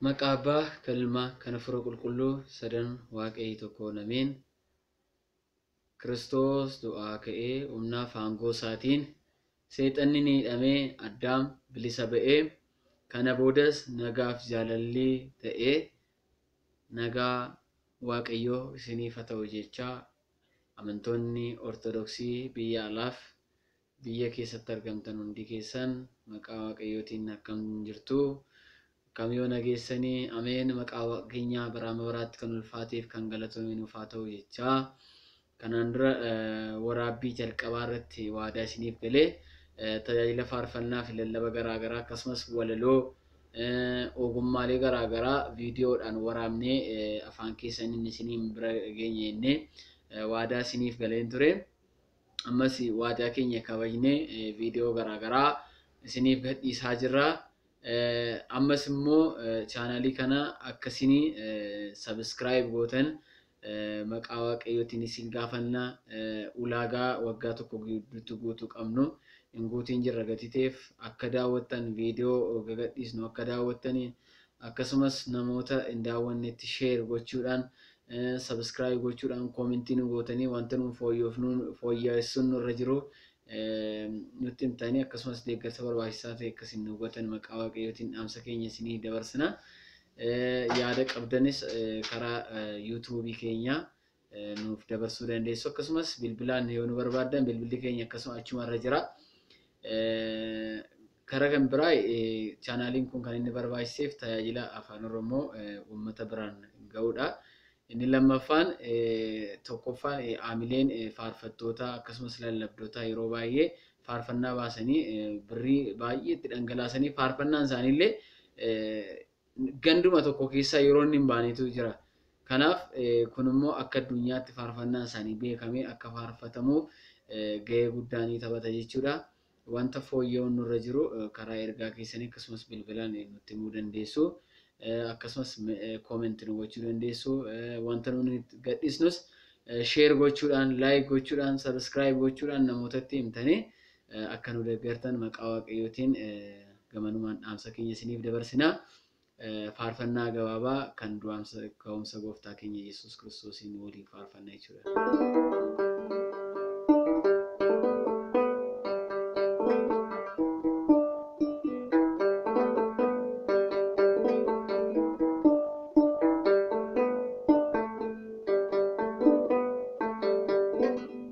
Maqaa Abbaa, kan Ilmaa, kan Hafuura Qulqulluu, sadan Waaqayi tokkoon Ameen. Kiristoos du'aa ka'ee humnaaf aangoo isaatiin seexanni ni hidhame, Addaam bilisa ba'e, kana boodas nagaaf jaalalli ta'e, nagaa Waaqayyoo isiniif ha ta'u jechaa amantoonni Ortodoksii biyya alaaf Biyya keessatti argamtan hundi keessan maqaa waaqayyootiin akkam jirtu? Akkam yoo nageessani? Ameen maqaa waaqa keenyaa bara amma baraatti kan ulfaateef kan galatoome nuuf haa ta'u jechaa. Kanaan dura waraabbii jalqabaa irratti waadaa isiniif galee tajaajila faarfannaa fi lallaba garaa garaa akkasumas walaloo ogummaalee garaa garaa viidiyoodhaan waraabnee afaan keessaniin isiniin bira geenye jennee waadaa isiniif galeen ture. ammas waadaa keenya kabajnee viidiyoo garaagaraa isiniif gadhiisaa jirra. Ammas immoo chaanaalii kana akka isin sabiskiraayib gootan maqaa waaqayyootiin isin gaafanna. Ulaagaa waggaa tokko gidduutti guutuu qabnu hin guutiin jirra gatii ta'eef akka daawwattan viidiyoo gagadhiisnu akka daawwattanii Akkasumas namoota hin daawwannetti share gochuudhaan, subscribe gochuudhaan, comment nu gootanii wanta nuun fooyyofnu fooyyaessuun nurra jiru nutti himtanii akkasumas deeggarsa barbaachisaa ta'e akka isin nuu gootan maqaa Waaqayyootiin dhaamsa keenya isinii dabarsina. Yaada qabdanis karaa YouTube keenyaa nuuf dabarsuu dandeessu. Akkasumas bilbilaan yoo nu barbaaddan bilbilli keenya akkasuma achuma irra jira. Karaa kan biraa chaanaaliin kun kan inni barbaachiseef tajaajila afaan Oromoo uummata biraan ga'uudha. Inni lammaffaan tokkoffaan aamileen faarfattoota akkasumas lallabdootaa yeroo baay'ee faarfannaa baasanii birrii baay'ee itti dhangalaasanii faarfannaan isaaniillee Ganduma tokko keessa yeroo inni hin baanetu jira. Kanaaf kun immoo akka addunyaatti faarfannaan isaanii beekamee akka faarfatamu gahee guddaa ni taphata jechuudha. Wanta fooyya'uun nurra jiru karaa ergaa keessanii akkasumas bilbilaan nutti himuu dandeessu. Akkasumas comment nu gochuu dandeessu. Wanta nuti gadhiisnus share gochuudhaan, like gochuudhaan, subscribe gochuudhaan namootatti himtanii Akka nu deeggartan maqaa Waaqayyootiin gamanumaan dhaamsa keenya isiniif dabarsina. Faarfannaa gabaabaa kan du'aamsa ka'umsa gooftaa keenya Yesuus Kiristoosiin waliin faarfanna jechuudha.